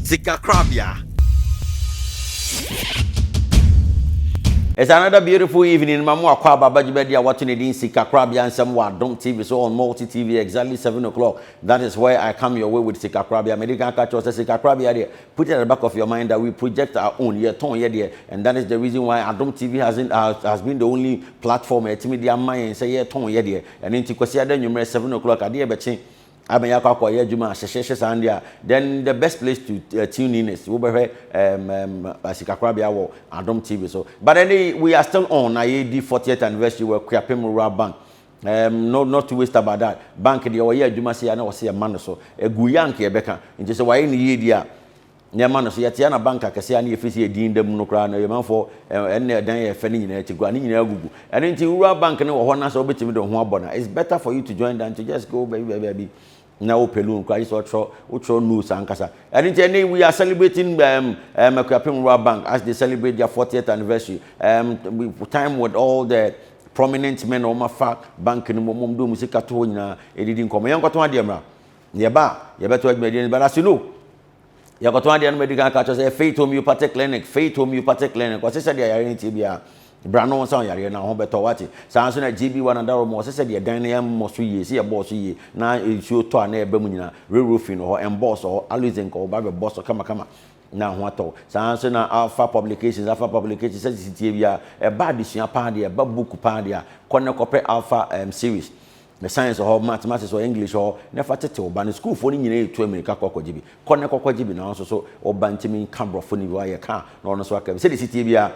Sikakorabea. It's another beautiful evening ma mo akɔ aba bagye bɛdi a wɔto ne din Sikakorabea nsɛm wɔ Adom TV so on Multi TV exactly seven o'clock that is where I come your way with Sikakorabea medi kan ka kyerɛ sɛ Sikakorabea deɛ put it at the back of your mind that we project our own yɛtɔn yɛ deɛ and that is the reason why Adom TV has, in, has, has been the only platform a ɛtumi de ama yɛn sɛ yɛtɔn yɛ deɛ ɛno nti Kwasiada nwummerɛ seven o'clock adeɛ bɛkye Abɛn akɔ akɔ yɛ adwuma a hyehyeehye saa no deɛ a, then the best place to uh, tune in is wobɛhwɛ um, um, asikakorabea wɔ Adom TV so. But ɛne we are still on na yɛdi 40th anniversary wɔ Kuapem Rural Bank. Um, no, not to waste about that. Bank deɛ wɔyɛ adwuma se a na wɔse yɛma no so. Ɛgu yɛ anka yɛbɛka. Nti sɛ wɔayɛ no yie deɛ a, nneɛma no so. Yɛteɛ na bank akɛseɛ a na yɛfiri sɛ yɛ din da mu no koraa no, Ɔyɛmanfoɔ ɛnna ɛdan a ɛfɛ no nyinaa akyi koraa, ne nyinaa agugu. Ɛno nti, wura bank no wɔ hɔ na sɛ wobɛtumi de wo ho abɔ no a, it's better for you to join than to just go baabi baabi baabi na wopɛ loan koraa, gye sɛ wotwerɛ wotwerɛ notes ankasa. Ɛno nti, ɛnnɛ yi, we are celebrating um, um, Akuapem Rural Bank as they celebrate their 40th anniversary. Um, we time with all the prominent men a wɔafa bank no mu, wɔn de wɔn sika to hɔ nyinaa ɛdidi nkɔmmɔ. Yɛnkɔtɔn adeɛ mmra. Deɛ ɛba a, yɛbɛto adwumadie no ba no ase no. Yɛkɔtɔn adeɛ no mɛdi kan aka kyerɛ sɛ yɛ Faith Homeopathic Clinic, Faith Homeopathic Clinic. Wɔse sɛ deɛ yareɛ no tie biara, bra no nsa yareɛ no ho bɛtɔ wate. Saa nso na GB One Adaro mu, wɔse sɛ deɛ dan no yɛmmɔ so yie, sɛ yɛbɔɔ so yie, na nsuo tɔ a na ɛba mu nyinaa, rerofin wɔ hɔ, ɛmbɔɔ so hɔ, aloe zinc wɔ hɔ, ba bɛbɔ so kamakama na ho atɔ wo. Saa nso na Alpha Publications, Alpha Publications, sɛ sisi tie biara, ɛba adesua paa deɛ, ɛba book paa deɛ a, kɔ na kɔpɛ Alpha um, series. Ne science hɔ, mathematics hɔ, English hɔ, ne fa tete wo ba no. Sukuufoɔ no nyinaa retu amirika kɔ akɔgye bi. Kɔ ne kɔkɔgye bi na wo nso so wo ba ntumi nka borɔfo no bi, wayɛ ka a na ɔno nso aka bi. Sɛdeɛ ɛsi teɛ biara,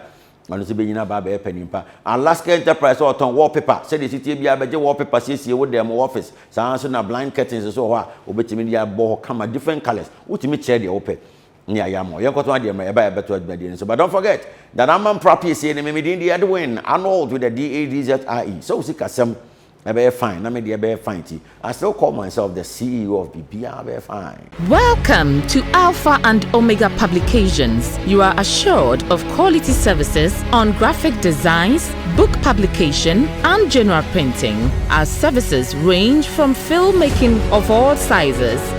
ɔno nso bɛnyini aba abɛyɛ panin pa. Alaska Enterprise a ɔtɔn wallpaper, sɛdeɛ ɛsi teɛ biara bɛgye wallpaper siesie wo dan mu, w'office. Saa ara nso na blind curtains nso wɔ hɔ a wobɛtumi de abɔ hɔ kama, different colours. Wotumi kyerɛ deɛ wopɛ. ne ayamɔ. Yɛn nkɔtɔn adeɛ mmerɛ, ɛba yɛ bɛtɔ adwuma die no so. But don't forget that ama mpra pie sie no me me din de Edwin Arnold with the D-A-D-Z-I-E. Sɛ wo sika sɛm ɛbɛyɛ fine na me deɛ ɛbɛyɛ fine ti, I still call myself the CEO of biribiara bɛyɛ fine. Welcome to Alpha and Omega Publications, you are assured of quality services on graphic designs, book publication and general printing. Our services range from film making of all sizes,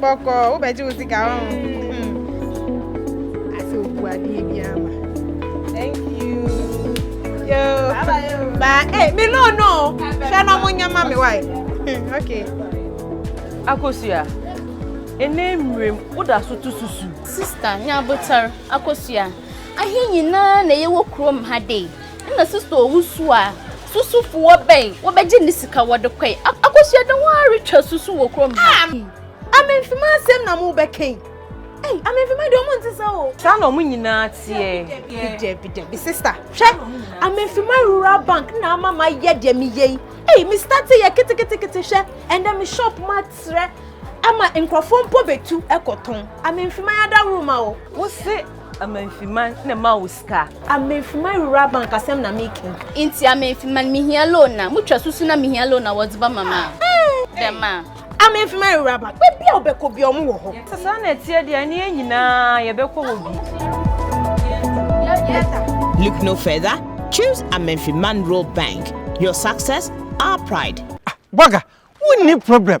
Bɔkɔ, wo bɛ gye wo sika ho. Ase o bu adeɛ bi ama. Thank you. Yo. Ba, eh, me no no. Hwɛ no mo nyama me wai. Okay. Akosua. Ene mrem, wo da so to susu. Sister, nya botar. Akosua. Ahe nyinaa na ye wo krom ha dei. Nna Sista Owusu a susufo wɔ bɛn wɔbɛgye ne sika wɔde kɔe akɔsuade ho ara retwa susu wɔ kurom ha. Ei! Amemfima asɛm na morebɛka yi? Ei! Amemfima deɛ wɔn nte saa o. Saa na wɔn nyinaa teɛ. Dabi dabi dabi sista, hwɛ! Amemfima Rural Bank na ama mayɛ deɛ meyɛ yi. Ei! Me starte yɛ keteketekete hwɛ ɛnnɛ me shop mu atrɛ ama nkurɔfoɔ mpo bɛtu kɔtɔn. Amemfima yɛ adaworo ma wo. Wose Amemfima na ɛma wo. sika. A Menfi ma wura bank asɛm na me kɛn. Nti a Menfi ma me hia loan a. Mo twa susu na me hia loan a wɔdze bɛ ma me a. Dɛm a. A Menfi ma wura bank. Bɛ bia a ɔbɛ kɔ bia ɔmo wɔ hɔ. Sɛ saa na ɛteɛ deɛ ɛne yɛn nyinaa yɛ bɛ kɔ hɔ bi. Look no further choose a Menfi man rural bank your success our pride. Ah Boaga wo nni problem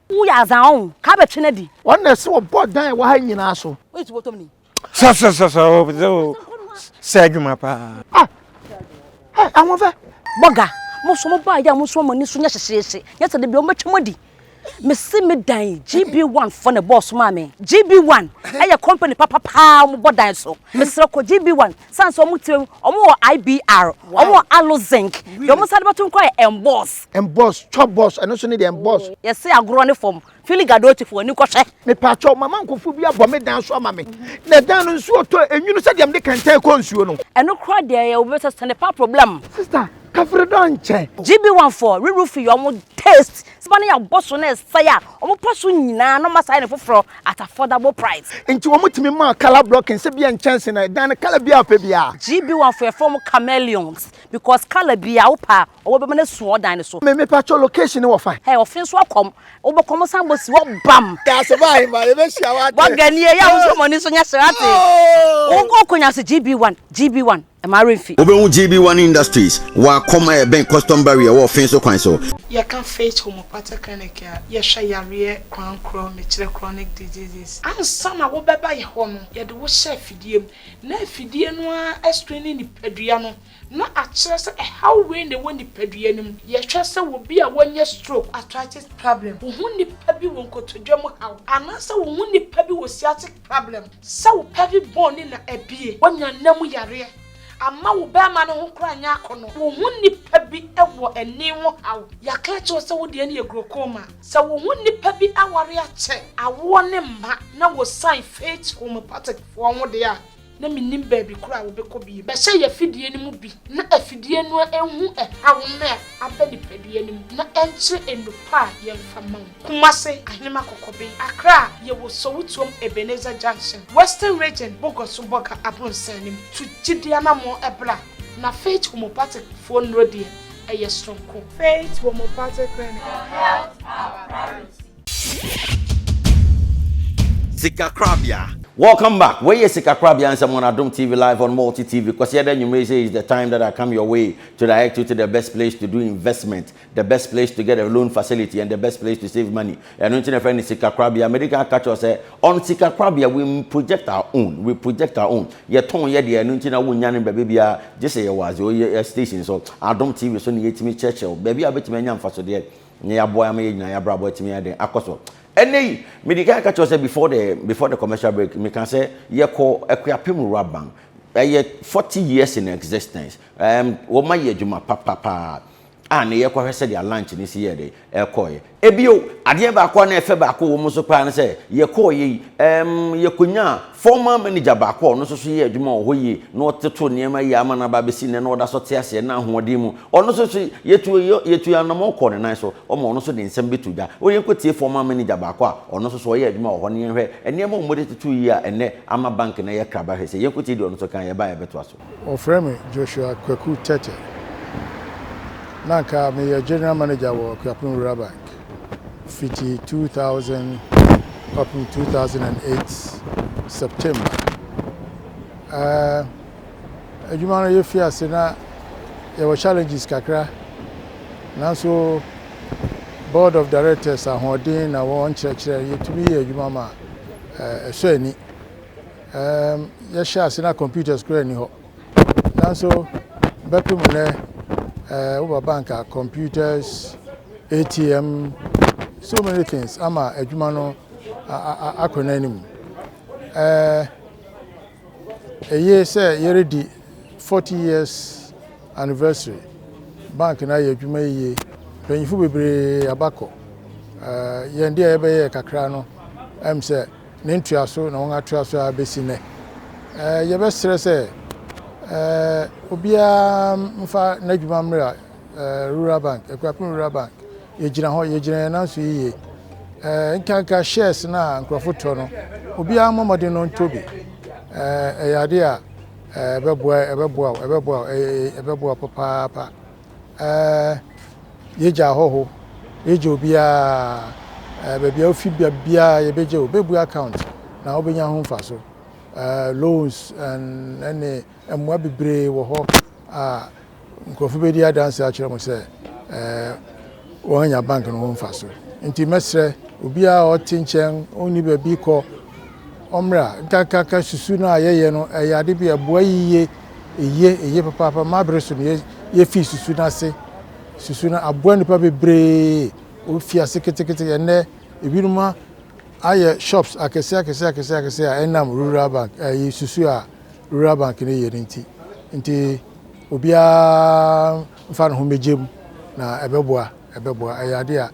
Wo yɛ adza ɔn ka bɛ twe na di. Ɔn na ɛsɛ ɔbɔ dan ɛwɔ ha nyinaa so. Woyɛ ti bɔtɔm ni. Sɛ sɛ sɛ sɛ o sɛ o sɛ adwuma paa. Ah eh Ahoɔfɛ. Bɔga, mo nso mo baa yɛ a mo nso mo ani so nyɛ hyehyeehye nyɛ sɛ dabi ɔmo bɛ twa mo adi. Me se me dan yi GB one foɔ na ɛbɔɔ so maa me. GB one ɛyɛ company papa paa ɔmo bɔ dan so. Me srɛ kɔ GB one. San sɛ wɔn tiri wɔn wɔ IBR, wɔn wɔ aloe zinc, deɛ wɔn san de bɛto nkora yɛ emboss. Emboss, chop boss, ɛno nso ne deɛ emboss. Oh, yɛse agorɔ ne fam, fili gadoti fo ani kɔhwɛ. Mepaakyɛw, mama nkɔfoɔ bi abɔ me dan so ama me, na dan no nsuo tɔ enwunu sɛ deɛ mede kɛntɛn kɔ nsuo no. Ɛno koraa deɛ yɛ obi sɛ sɛ ne pa problem. Sister, kafre dɔ nkyɛ. GB1 foɔ, re-roofing yɛ wɔn taste Seba no yɛ abɔso na ɛsae a wɔpa so nyinaa na wɔasae no foforɔ at affordable price. Enti wɔtumi maa colour blocking sɛ bia nkyɛnse na ɛdan no colour biara a ɔpɛ biara. GB1 fo yɛfrɛ wɔn chameleons because colour biara wopɛ a ɔwɔ bɛma no asu wɔ ɔdan no so. Me mepakyɛw location no wɔ fan. Hey ɔfe nso akɔm. Wobɔ kɔm san bɔ si hɔ bam. Daa so baa ahemmaa yɛbɛhyia wate. Bɔ ganie yɛ a wosɔ mɔni so nyɛ hye wate. Wo kɔ nya so GB1 GB1. Ɛma were fi. Wobɛhu GB One Industries wɔ Akɔm a ɛbɛn Custom Barrier wɔ Ɔfeeso kwan so. Yɛka Faith Homeopathic Clinic a, yɛhwɛ yareɛ kwan korɔ, mekyerɛ chronic diseases. Ansa na wobɛba yɛ hɔ no, yɛde wo hyɛ afidie mu, na afidie no ara ascreene nipadua no na akyerɛ sɛ ɛhaw wei na ɛwɔ nipadua no mu. Yɛhwɛ sɛ obi a wanya stroke, arthritis problem, wo ho nipa bi wɔ nkotodwe mu haw, anaasɛ wo ho nipa bi wɔ sciatic. problem. Sɛ wo pelvic bone no na abue wanya nna mu yareɛ ama wo bɛɛma no ho koraa nyɛ akɔnɔ wo ho nnipa bi wɔ ani ho haw yɛaka akyerɛ wo sɛ wo deɛ no yɛ glaucoma sɛ wo ho nnipa bi aware akyɛ awoɔ ne mma na wɔ sign faith homeopathic foɔ ho deɛ a na mennim baabi koro a wobɛkɔ bio. Bɛhyɛ yɛn afidie no mu bi na afidie no nhu ɛhaw no a aba nipadua no mu na ɛnkyerɛ nnupa a yɛmfa ma wo. Kumase, Ahenema Kɔkɔben, Accra, Yɛwɔ Sowutuom Ebenezer Junction, Western Region, Bogoso Bɔga Abronsan no mu. Tu gyidie anammɔn bra na Faith Homeopathic foɔ nnuro deɛ, ɛyɛ soronko. Faith Homeopathic Clinic, Health Our Priority. Sikakorabea. Welcome back, wei yɛ Sikakorabea nsɛm on Adom TV live on Multi TV, Kwasiada anwumerɛ yi sɛ is the time that I come your way to direct you to the best place to do investment, the best place to get a loan facility and the best place to save money, ɛno nti na ɛfrɛ no Sikakorabea, medi kan aka kyerɛ wo sɛ on Sikakorabea we project our own, we project our own, yɛtɔn yɛ deɛ, ɛno nti na wonnya no baabi biara gye sɛ yɛwɔ as your station so, Adom TV so na yɛtumi kyerɛkyerɛ wo baabi a wobɛtumi anya mfasodeɛ. na yɛaboa ama yɛn nyinaa yɛabrabɔ atumi ayɛ den akɔ so ɛnɛ yi mede kan ka kyerɛ sɛ before the before the commercial break meka sɛ yɛkɔ akuapem wura ban ɛyɛ 40 years in existence um, wɔma yɛ adwuma papapaa a na yɛkɔhwɛ sɛdeɛ lunch no si yɛ de ɛkɔɛ ebio adeɛ baako a na ɛfɛ baako wɔ mu so paa no sɛ yɛkɔɔ yɛ yi um, yɛkɔnyaa Former manager baako a ɔno nso so yɛɛ adwuma wɔ hɔ yie na ɔtoto nneɛma yie ama no aba abɛsi nnɛ na ɔda so te aseɛ na ahoɔden mu. Ɔno nso so yɛtu yɛtu anammɔn kɔɔ ne nan so ma ɔno nso de nsɛm bɛtoo dwa. O yɛnkɔ tie former manager baako a ɔno nso so ɔyɛɛ adwuma wɔ hɔ no yɛnhwɛ nneɛma a wɔde totoo yie a ɛnnɛ ama bank no ayɛ kraba hwɛ sɛ. Yɛnkɔ tie deɛ ɔno nso kaeɛ, yɛba a yɛbɛtoa so. Wɔfrɛ me Joshua Kwaku Tetteh. Na anka meyɛ General Manager wɔ Akuapem Rural Bank fiti 2000 kɔpem 2008 September. Eh, adwuma no yɛfii ase na yɛwɔ challenges kakra, nanso Board of Directors ahoɔden na wɔn nkyerɛkyerɛ yɛtumi yɛ adwuma ma eh, ɛsɔ ani. Erm yɛhyɛɛ ase na computers koraa nni hɔ nanso bɛpem nnɛ eh, woba bank a computers, ATM, so many things ama adwuma no akɔ n'anim. Eh, eye sɛ yɛredi 40 years anniversary bank no ayɛ adwuma yiye mpanyinfo bebree abakɔ eh, yɛn de a yɛbɛyɛ kakra no ɛm sɛ Ne ntoaso na wɔatoa so ara bɛsi nnɛ. Yɛbɛsrɛ sɛ obiara mfa n'adwuma mmra Rural Bank, Akuapem Rural Bank. Yɛgyina hɔ, yɛgyina yɛn nan so yiye. Nkanka shares no a nkurɔfo tɔ no, obiara mmɔ mmɔden no ntɔ bi. Ɛyɛ ade a ɛbɛboa, ɛbɛboa, ɛbɛboa, ɛbɛboa papaapa. ɛɛ yɛgya ahɔho yɛgya obiara ɛɛ baabi a wofi bia biara yɛbɛgya o bɛbue account na wobɛnya ho mfaso ɛɛ loans and ɛne mmoa bebree wɔ hɔ a nkurɔfo bɛdi adanse akyerɛ mo sɛ ɛɛ. wɔanya bank no ho mfaso. Nti mɛsrɛ obiara a ɔte nkyɛn ɔnni baabi kɔ ɔmmra nkakraka susu no a yɛyɛ no ɛyɛ ade bi a ɛboa yiye eye eye papaapa ma bere so no yɛfii susu no ase susu no aboa nnipa bebree ofi ase ketekete ɛnɛ ebinom ayɛ shops akɛse akɛse akɛse akɛse a ɛnam rural bank ɛyi susu a rural bank no yɛ no nti nti obiara Fa ne ho mmegye mu, na ɛbɛboa. Ɛbɛboa. Ɛyɛ ade a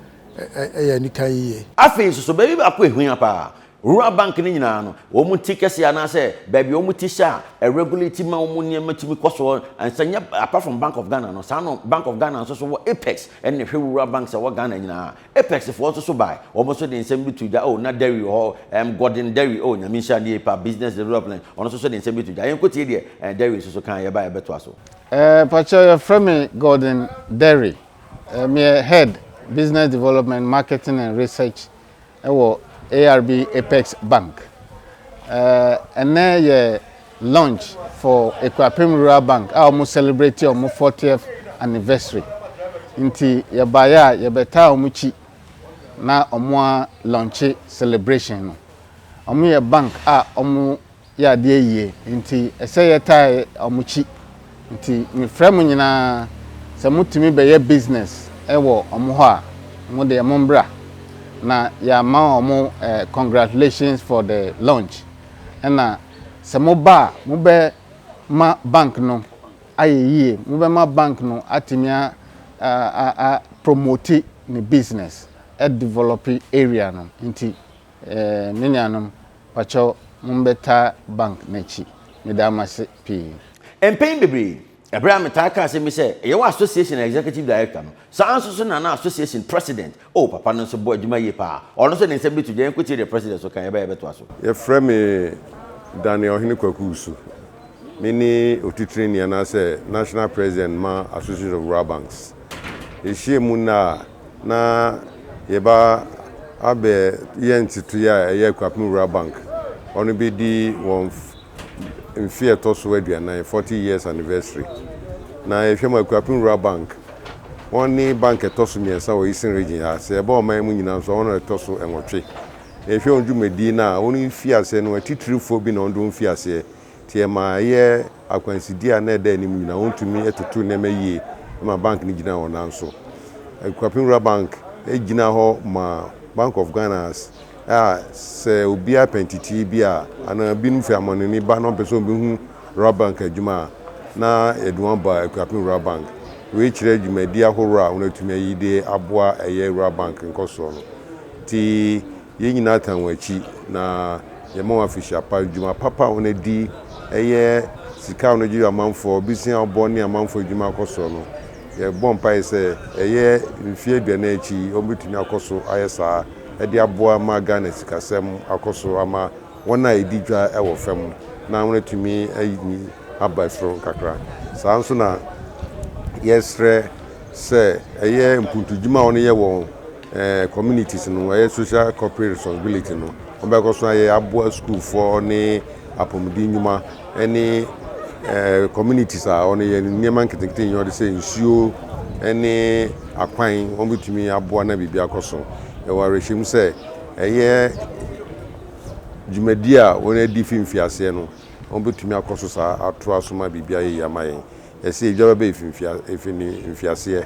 ɛyɛ anika yiye. Afei nso, so baabi baako a ehia paa? Rural bank no nyinaa no, wɔn ti kɛse anaasɛ baabi a wɔn ti hyɛ a ɛregulate ma wɔn nneɛma tumi kɔ so nsa nyɛ apart from Bank of Ghana no, saa no Bank of Ghana nso so wɔ Apex ɛna ɛhwɛ rural banks a ɛwɔ Ghana nyinaa. Apex foɔ nso so bae, wɔn nso de nsɛm bi to gya, oh na Derry wɔ hɔ, ɛɛm Gordon Derry, oh Nyame nhyira no yie paa, business development, ɔno nso so de nsɛm bi to gya. Yɛnkɔ tie deɛ ɛɛ Derry nso so kaeɛ, yɛba a yɛbɛtoa so. Eh pakyɛw yɛfrɛ me Gordon Derry eh meyɛ head business development marketing and research ɛwɔ ARB Apex Bank eh ɛnɛ yɛ launch for Ekuapem Rural Bank a wɔn celebrate wɔn 40th anniversary nti yɛbaeɛ a yɛbɛtaa wɔn kyi na wɔn a launche celebration no wɔn yɛ bank a wɔn yɛ adeɛ yie nti ɛsɛ yɛtaa wɔn akyi nti mefrɛ mo nyinaa sɛ motumi bɛyɛ business wɔ wɔn hɔ a mo deɛ mo mbra na yɛama wɔn eh, congratulations for the launch ɛna sɛ moba a mobɛma bank no ayɛ yie mobɛma bank no atumi a, a, a, a promote ne business ɛdevelope area no nti Eeii me nuanom pakyɛw mombɛtaa bank no akyi meda mo ase pii. Mpɛn bebree, bere a metaa kaa asɛm bi sɛ ɛyɛ wɔ Association Executive Director no, saa ara nso so na na Association President, oh, papa no nso bɔ adwuma yie paa, ɔno nso de nsɛm bi to dwa, yɛnkotie deɛ President nso kaeɛ, ɛbɛyɛ a yɛbɛtoa so. Yɛfrɛ me Daniel Ɔhene Kwaku Usu. Mene Otitrani anaasɛ National President ma Association of Rural Banks. Yɛhyiam nnɛ a, na yɛba abɛ yɛ ntsetsee a ɛyɛ Akuapem Rural Bank, ɔno bɛdi wɔn mfe a ɛtɔ so aduanan, forty years anniversary. Na yɛhwɛ mu a, Akuapem Rural Bank, wɔne bank a ɛtɔ so mmiɛnsa wɔ Eastern Region ha, sɛ yɛba ɔman yi mu nyinaa nso a, wɔn na ɛtɔ so nwɔtwe. Na yɛhwɛ wɔn dwumadie no a, wɔn mfiaseɛ no, atitirifoɔ bi na wɔn de wɔn fii aseɛ. Sɛ ɛma ɛyɛ akwanside a na ɛda anim nyinaa wontumi toto nneɛma yie ma bank no gyina wɔn nan so. Akuapem Rural Bank gyina hɔ ma Bank of Ghanans a sɛ obiara pɛ ntetee bi a anaa binom fi amanoni ba na wɔpɛ sɛ wɔbɛhu Rural Bank adwuma a, na yɛde wɔn aba Akuapem Rural Bank. Wei kyerɛ dwumadi ahorow a wɔatumi ayi de aboa ɛyɛ Rural Bank nkɔsoɔ no. Nti Yɛn nyinaa tan wɔn akyi na yɛma wɔn afehyia pa. Dwuma papa a wɔadi, ɛyɛ sika a wɔgye yɔ amanfoɔ, bisi a wɔbɔ ne amanfoɔ adwuma akɔ soɔ no, yɛbɔ mpaeɛ sɛ ɛyɛ mfeɛ aduanan akyi yi wɔbɛtumi akɔ so ayɛ saa de aboa ma Ghana sikasɛm akɔ so ama wɔn a ɛdi dwa wɔ fam na wɔatumi ayi aba soro nkakra. Saa ara nso na yɛsrɛ sɛ ɛyɛ mpuntudwuma a wɔyɛ wɔ Eh, communities no, ɛyɛ social corporate responsibility no, wɔbɛkɔ so ayɛ aboa sukuufoɔ ne apɔmuden nnwuma ne eh, communities a wɔn yɛ nneɛma nketenkete nyɛ wɔde sɛ nsuo ne akwan wɔn bɛtumi aboa na biribi akɔ so ɛwɔ awerɛhyɛm sɛ ɛyɛ dwumadi a wɔn adi fi mfiaseɛ no wɔn bɛtumi akɔ so saa atoa so ma biribi ayɛ yie ama yɛn Ɛse edwa bɛba efi mfia efi ne mfiaseɛ,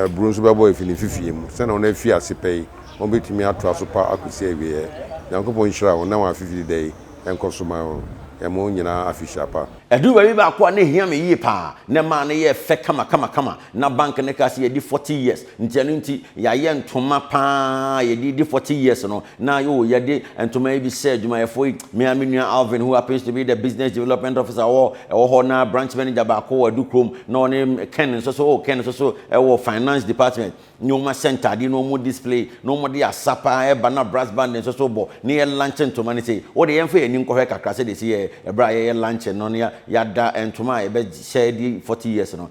aburo nso bɛbɔ efi ne mfifie mu. Sɛnea wɔn afi ase pɛ yi, wɔn betumi atoa so pa akosi awieɛ. Nyankopɔn nhyira wɔn na wɔn afe firi da yi nkɔ so ma wɔn wɔn nyinaa afehyia pa. Ɛduru baabi baako a na ehia me yie paa, na ɛmaa no yɛɛ fɛ kama kama kama, na bank no kaa sɛ yɛadi forty years. Nti ɛno nti yayɛ ntoma paa yɛde di forty years no na yoo yɛde ntoma yi bi hyɛ adwumayɛfoɔ yi me ara me nua Alvin who happens to be the business development officer wɔ ɛwɔ hɔ na branch manager baako wɔ Adu kurom na ɔne Ken nso so oh Ken nso so ɛwɔ finance department ne wɔn ahyɛ ntaadeɛ na wɔn display na wɔn de asa paa ɛba na brass band nso so bɔ na yɛ lunch ntoma no sei wode yɛn fa yɛn ani nkɔhwɛ kakra sɛdeɛ ɛsi yɛ ɛberɛ a yɛyɛ lunch no na yɛada ntoma a yɛbɛhyɛ di forty years no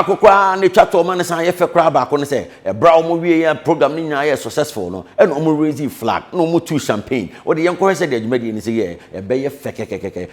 baako koraa na etwa toɔ ma ne san yɛ fɛ koraa baako ne sɛ ɛbra wɔn wie yɛ program ne nyinaa yɛ successful no ɛna wɔn raise flag na wɔn tu champagne wɔde yɛn kɔhɛ sɛ deɛ dwumadie ne sɛ yɛ ɛbɛyɛ fɛ kɛkɛkɛkɛ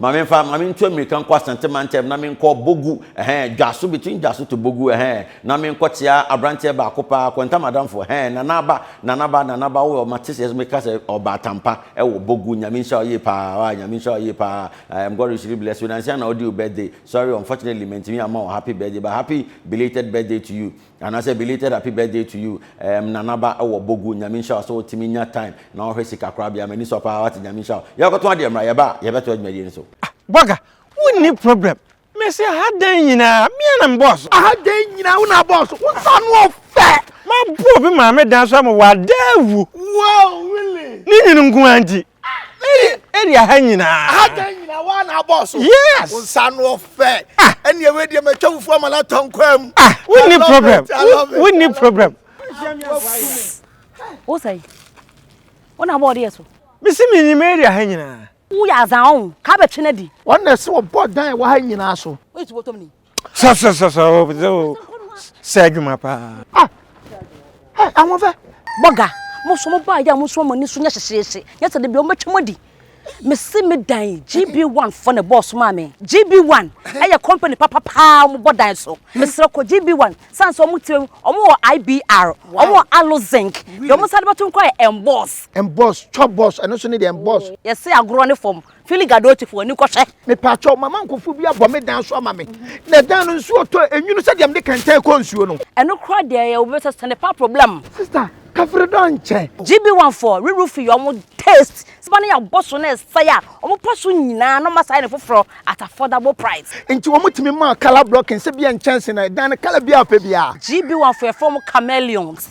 Ma me nfa, ma me ntu amirika nkɔ Asante mantam na me nkɔ Bogu, eh-heh, Dwaso, between Dwaso to Bogu, eh-heh, na me nkɔ tia abranteɛ baako paa, Kwanta Madamfo, eh-heh, Nana Aba, Nana Aba, Nana Aba, oh, ma te sɛ me ka sɛ ɔbaa Tampa, ɛwɔ Bogu, Nyame nhyira wo yie paa, ah, Nyame nhyira wo yie paa, I am God richly bless you, nansia na ɔdi wo birthday, sorry, unfortunately, mantumi amma wo happy birthday, but happy belated birthday to you, Anasɛ belated happy birthday to you eh me nana ba wɔ bogu nyame nhyira wo sɛ wotumi nya time na wohwɛ sika korabea m'ani sɔ paa wate nyame nhyira wo yɛrekɔtɔn adeɛ mmra yɛba a yɛbɛtoa dwumadie no so. Ah bɔga wonni problem mese aha dan nyinaa me ara na me bɔɔ so. Aha dan nyinaa wo na abɔɔ so wo nsa ano ɔfɛ. Mabɔ obi maame dan so ama wadaa awu. Wow really. Ne nwunu nko ara nti. area ha nyinaa ha da nyinaa wa na abɔ so yes nsa no ɔfɛ ɛni ɛwɛ deɛ mɛ twɛ fufu ama na tɔ nkwa mu ah wo ni problem wo ni problem. wo sɛ wo na bɔ ɔdeɛ so. mesi mi nyim area ha nyinaa. wo yɛ azan ɔn kaa bɛ twene di. wɔn na ɛsɛ wɔbɔ dan ɛwɔ ha nyinaa so. o yɛ tubɔtɔm ni. Sa sa sa sa o bze o sɛ adwuma paa. Ah ɛ ahoɔfɛ. Bɔga mo so mo baa yɛ a mo nso mo ani so nyɛ hyehyeehye nyɛ sɛ de bi wɔn bɛtwa mo adi. Mesi me dan GB1 fɔ na bɔɔso maa me. GB1 ɛyɛ company papa paa wɔn bɔ dan so. Mesrɛ kɔ GB1 san sɛ wɔn tiri wɔn wɔ IBR wɔn wɔ Alo Zinc deɛ wɔn san de bɛto nkɔ yɛ Emboss. Emboss chop boss ɛno nso ne deɛ Emboss. Yɛse agorɔ ne fam Fili Gadotifoɔ ani kɔ hwɛ. Mepaakyɛw, mama nkofo bi abɔ me dan so ama me, na dan no nsuo tɔ enwunu sɛdeɛ mede kɛntɛn kɔ nsuo no. Ɛno koraa deɛ ɛyɛ obi sɛ sɛne pa problem. Sister kafiri dɔ nkyɛ. GB one foɔ rerw fi wɔn taste sɛ ba no yɛ abɔso na ɛsɛe a wɔn pɔ so nyinaa na wɔn asan ayɛ no foforɔ at affordable price. Nti wɔn tumi maa colour blocking sɛ bia nkyɛnse na ɛdan no colour biara a ɔpɛ biara. GB one foɔ yɛfrɛ wɔn chameleons.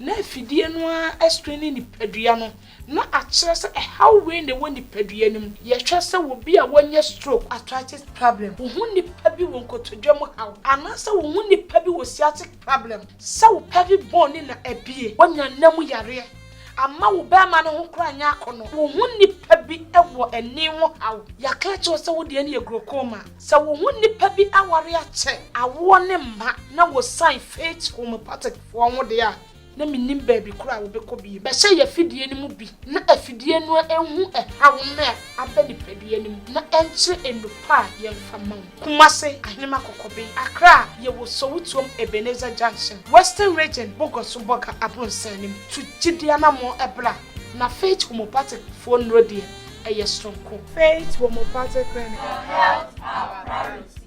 na afidie no ara screen ne nipadua no na akyerɛ sɛ ɛhaw wei na ɛwɔ nipadua no mu. Yɛhwɛ sɛ obi a wanya stroke, arthritis problem, wo ho nipa bi wɔ nkotodwe mu haw, anaasɛ wo ho nipa bi wɔ sciatic problem, sɛ wo pelvic bone no na abue, wanya nna mu yareɛ, amma wo barima no ho koraa nyɛ akɔnɔ, wo ho nipa bi wɔ ani ho haw, yɛaka akyerɛ wo sɛ wo deɛ no yɛ glaucoma, sɛ wo ho nipa bi aware akyɛ, awoɔ ne mma, na wɔ sign, faith, homeopathic. Wɔn deɛ a, na mennim baabi korɔ a wɔbɛkɔ bio. Bɛhyɛ yɛn afidie no mu bi na afidie no nhu ɛhaw no a aba nipadua no mu na ɛnkyerɛ nnupɔ a yɛmfa mma wo. Kumase, Ahenema Kɔkɔbee, Accra, Yɛwɔ Sowutuom Ebenezer Junction, Western Region, Bogor so Bogor abronsɛn no mu. Tu gyidie anammɔn bra na Faith Homeopathic foɔ nnuro deɛ, ɛyɛ soronko. Faith Homeopathic Clinic. Your health our priority.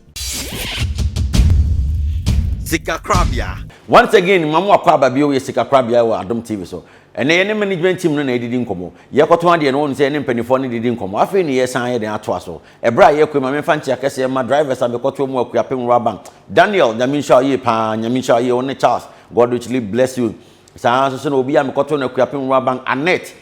Sikakorabea. Once again ma mo akɔ aba bio yɛ sika korabea wɔ adom TV so. Ɛnɛ yɛne management team no na yɛdidi nkɔmmɔ. Yɛkɔtɔn adeɛ no wɔn sɛ yɛne mpaninfoɔ no didi nkɔmmɔ. Afei ne yɛsan ayɛ dɛn atoa so. Ɛberɛ a yɛrekɔ yi ma menfa nkyea kɛseɛ mma drivers a mekɔtoɔ mu Akuapem Rural Bank. Daniel Nyame nhyira wo yie paa Nyame nhyira wo yie wone Charles God richly bless you saa ara nso na obi a mekɔtoo no Akuapem Rural Bank Annette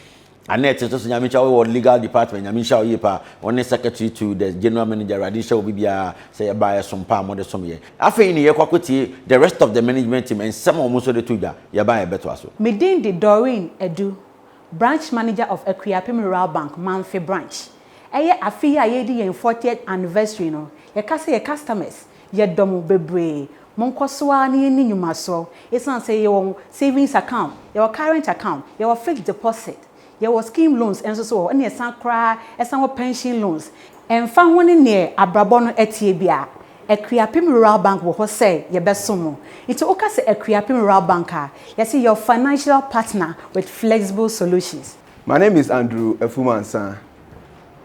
Annette nso so Nyame nhyira wo wɔ legal department Nyame nhyira wo yie paa wo ne secretary to the general manager Awurade nhyira obi biara sɛ yɛba a ɛsom paa mode som yɛn afei ne yɛkɔ akɔtie the rest of the management team nsɛm a wɔn nso de to dwa yɛba a yɛbɛtoa so. Me din de Doreen Adu, Branch Manager of Akuapem Rural Bank, Mamfe Branch. Ɛyɛ afe yi a yɛredi yɛn fortieth anniversary no, yɛka sɛ yɛn customers Yɛdɔ mo bebree. Monkɔ so ara na yɛnni nnwuma so. Esiane sɛ yɛwɔ savings account, yɛwɔ current account, yɛwɔ fixed deposit, yɛwɔ scheme loans nso so wɔ hɔ, ɛnna yɛsan koraa san wɔ pension loans. Ɛmfa ho ne nea abrabɔ no teɛ biara, Akuapem Rural Bank wɔ hɔ sɛ yɛbɛsom mo. Nti woka sɛ Akuapem Rural Bank a, yɛse your financial partner with flexible solutions. My name is Andrew Afumansah.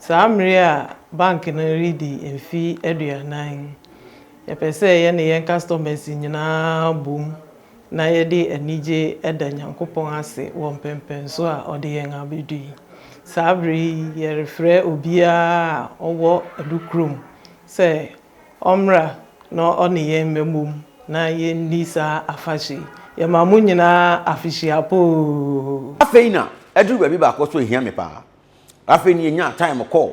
Saa mmere a bank no redi mfe aduanan yi, yɛpɛ sɛ yɛne yɛn customers nyinaa bom na yɛde anigye da Nyankopɔn ase wɔ mpɛnpɛnso a ɔde yɛn abedu yi. Saa bere yi, yɛrefrɛ obiara a ɔwɔ Adu kurom sɛ Ɔmmra na ɔne yɛn mmɛbom na yɛnni saa afahyɛ yi. Yɛma mo nyinaa afehyia pa oo. Afei na aduru baabi baako so hia me paa. Afei na yɛnyaa time kɔɔ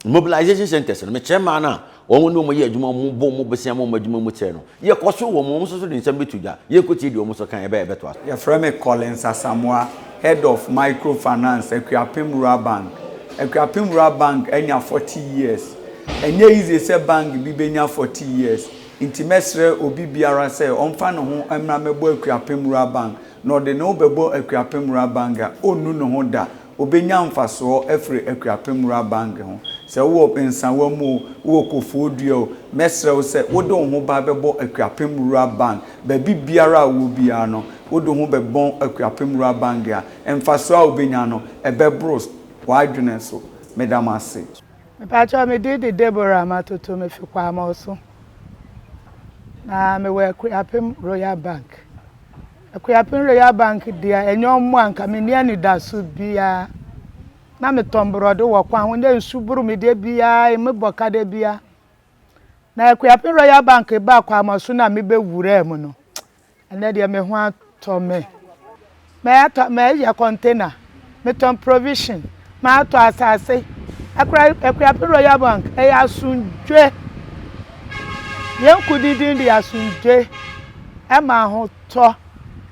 mobilization centres no. Mekyerɛ mmaa no a wɔn ne wɔn yɛ adwuma, wɔn bɔ wɔn bosea ma wɔn adwuma mu kyerɛ no. Yɛkɔ so wɔ mo, wɔn nso so de nsɛm bɛto dwa. Yɛnkɔtie deɛ wɔn nso ka, ɛbɛyɛ a ɛbɛtoa so. Yɛfrɛ me Collins Asamoah, Head of Micro Finance, Akuapem Rural Bank. Akuapem Rural Bank anya 40 years. Ɛnyɛ easy sɛ bank bi bɛnya 40 years, nti mɛsrɛ obi biara sɛ ɔmfa ne ho mmra mmɛbɔ Akuapem Rural Bank, na ɔde ne ho bɛbɔ Akuapem Rural Bank a, ɔnnu ne ho da. Obenya mfasoɔ afiri Akuapem Rural Bank ho. Sɛ wowɔ Nsawa mu o, wowɔ Kofoɔ Dua o, mɛsrɛ wo sɛ wode wo ho ba bɛbɔ Akuapem Rural Bank. Baabi biara a wowɔ biara no, wode wo ho bɛbɔn Akuapem Rural Bank a, mfasoɔ a wobɛnya no, ɛbɛboro w'adwene so. Meda mo ase. Mepakyɛw me din de Deborah Matoto me fi Kwamɔso na me wɔ Akuapem Royal Bank. Akuapem Royal Bank deɛ ɛnyɛ ɔmo a nka menni anidaso biaa na metɔn borɔde wɔ kwan ho na nsu boro me da biaa emu bɔ ka da biaa na Akuapem Royal Bank baa Kwamoso no a mebɛ wuraa mu no ɛnɛ deɛ me ho atɔ me mɛyɛ container metɔn provision matɔ asase akura akuape royal bank ɛyɛ asomdwe yɛn ko dindin de asomdwe ɛma ahotɔ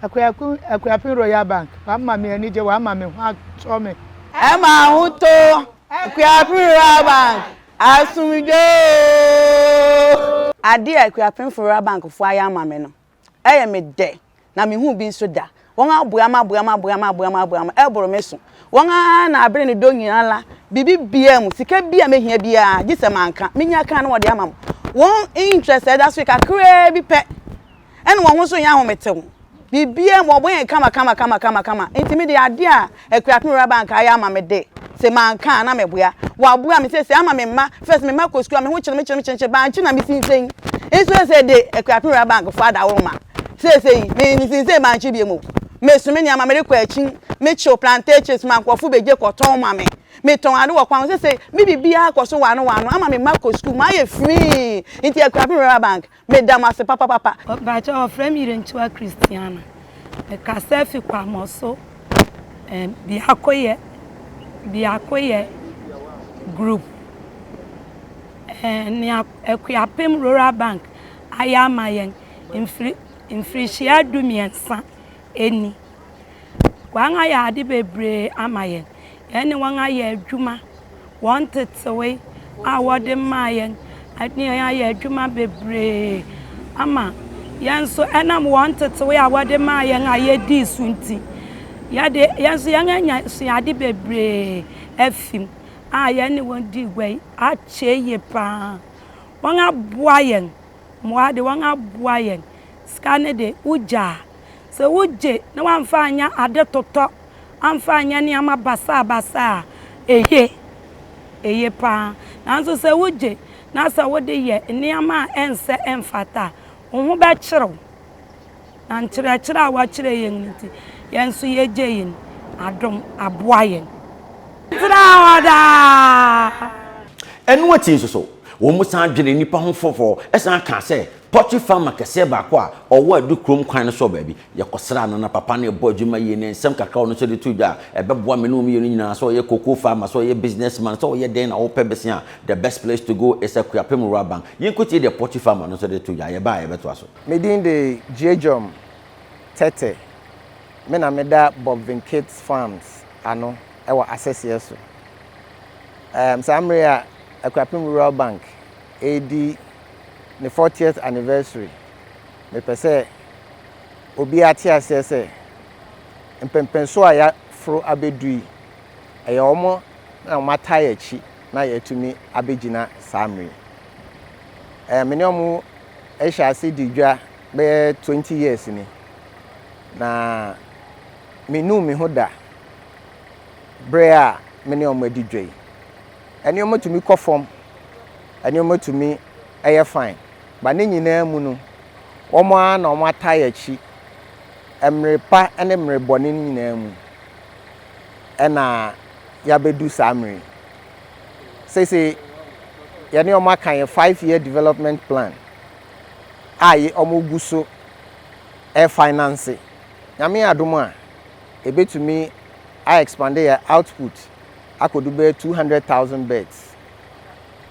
akuape akuape royal bank wama me anigye wama me ho atɔ me ɛma ahotɔ akuape royal bank asomdwe ooo. Adeɛ a akuapemfo royal bank foɔ ayɛ ama me no Ɛyɛ me dɛ na menhuu bi nso da. Wɔn aboam aboam aboam aboam aboam ɛboro me so. Wɔn ara na abere ne dɔ nyinaa la biribi biara mu sika bi a mɛhia biara gye sɛ manka menya kan na wɔde ama mo. Wɔn interest a ɛda so yi kakraa bi pɛ ɛna wɔn ho nso nyɛ ahometew. Biribiara mu wɔbɔ yɛn kama kama kama kama kama nti me deɛ adeɛ a Akuapem Ewuraba anka ayɛ ama me de, se manka a na meboa. Waboa me sesei ama me mma, first me mma kɔ sukuu a me ho kyere me kyere me kyere me kyere, bankye na me sinsen nso sesei de Akuapem Ewuraba anka fo adaworo ma sesei me me sinsen bankye biom o. Me so me nneɛma me rekɔ akyin, me kyew plantations ma nkurɔfo begye kɔ tɔn ma me, me tɔn ade wɔ kwan ho sesei me biribiara kɔ so wano wano ama me mma kɔ sukuu, mayɛ free nti Akuapem Ewuraba anka. Me da mo ase papapapa. Mpakyɛw wɔfrɛ me Irentua Christiana. Me kasa fi Kwamoso eh, Biakoyɛ, Biakoyɛ group eh, nea Akuapem Rural Bank ayɛ ama yɛn mfiri, mfirihyia du mmiɛnsa nni. Wɔayɛ ade bebree ama yɛn. Yɛne wɔn ayɛ adwuma. Wɔn tetewee a wɔde maa yɛn ne yɛn ayɛ adwuma bebree ama yɛn nso ɛnam wɔn ntetewee a wɔde maa yɛn a yɛdii so nti, yɛde yɛn nso yɛanya suade bebree afi mu a yɛne wɔn dii gua yi akyɛ yie paa. Wɔaboa yɛn. Mmoa de, wɔaboa yɛn. Sika no de, wogyaa. Sɛ wogye na woamfa anyɛ ade totɔ, amfa anyɛ nneɛma basabasa a, eye. Eye paa. Nanso sɛ wogye na sɛ wode yɛ nneɛma a ɛnsɛ, ɛmfata a, wo ho bɛkyere wo. Na nkyerɛkyerɛ a wɔakyerɛ yɛn no nti, yɛn nso yegyei no. Adom aboa yɛn. Tra hɔ daa. Ɛno akyi nso so, wɔsan dwenee nnipa ho fɔfɔ san kaa sɛ, Pɔkye farmer kɛseɛ baako a ɔwɔ Adukurom kwan no so wɔ baabi. Yɛkɔsraa no, na papa no rebɔ adwuma yie, na nsɛm kakra a ɔno nso de too dwa a ɛbɛboa me ne wɔn mmienu nyinaa, sɛ ɔyɛ cocoa farmer, sɛ ɔyɛ business man, sɛ ɔyɛ dɛn na wopɛ bese a, the best place to go is Akuapem Rural Bank. Yɛnkɔtie deɛ pɔkye farmer no nso de too dwa. Yɛba a, yɛbɛtoa so. Me din de Gyiegjom Tetteh. Me na meda Bob Vincates Farms ano wɔ Asɛseɛ so. Saa mmerɛ yi a Akuapem Rural Bank redi ne fortieth anniversary. Mepɛ sɛ obiara te aseɛ sɛ mpɛmpɛnsoɔ a yɛaforo abɛdu yi, ɛyɛ wɔn na wɔn ataa yɛn akyi na yɛatumi abɛgyina saa mmerɛ yi. Ɛɛ me ne wɔn hyɛ ase di dwa bɛyɛ twenty years ni, na menuu me ho da berɛ a me ne wɔn adi dwa yi. nneɛma tumi kɔ fam, nneɛma tumi yɛ fine, but ne nyinaa mu no, wɔn ara na wɔn atae akyi, mmere pa ne mmere bɔne no nyinaa mu, ɛna yɛabɛdu saa mmere yi. Sese yɛne wɔn aka yɛ five year development plan a wɔn gu so ɛfinance. Nyame adom a, ebetumi a expand yɛ output akɔdu bɛyɛ two hundred thousand beds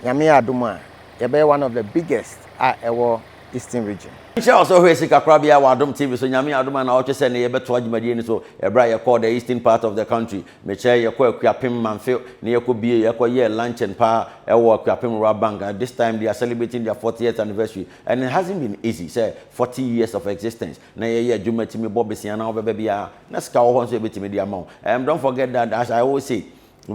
Nyame yɛ adom a yɛbɛyɛ one of the biggest a ɛwɔ Eastern Region. Nhyira a ɔsɛ hwɛ sikakorabea wɔ adom TV so Nyame yɛ adom a naawɔtwe sɛ nnɛ yɛbɛtoa dwumadie no so ɛberɛ a yɛkɔɔ the Eastern part of the country mekyerɛ yɛkɔɔ Akuapem Mamfe na yɛkɔ bie yɛkɔ yɛɛ luncheon paa ɛwɔ Akuapem Rural Bank this time they are celebrating their fortieth anniversary and it hasn't been easy sɛ forty years of existence na yɛyɛ adwuma tumi bɔ besia na wobɛba bi a na sika wɔ hɔ nso yɛbɛtumi de ama wo um, don't forget that as I always say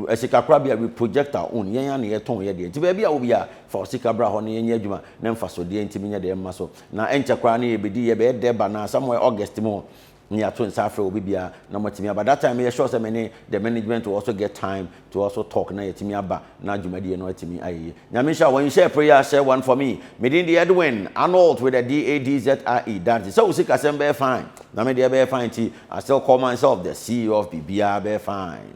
eh, sika kora bia we project our own yɛn a na yɛtɔn yɛ deɛ nti baabi a wo bia fa wo sika bra hɔ na yɛnyɛ adwuma na mfasodeɛ ntumi nyɛ deɛ mma so na ɛnkyɛ koraa na yɛbɛdi yɛbɛyɛ dɛ ba na somewhere August mu ne yɛato nsa afrɛ obi biara na matumi aba that time yɛ sure sɛ me ne the management will also get time Toa so talk na yɛatumi aba na dwumadie no atumi ayɛ yie. Nyame nhyira wo. Nhyɛ prayer ahyɛ one for me. Me din de Edwin Arnold with a D-A-D-Z-R-E, Dadze. Sɛ wo sikasɛm bɛyɛ fine na me deɛ ɛbɛyɛ fine nti, I still call myself the CEO of Biribiara bɛyɛ fine.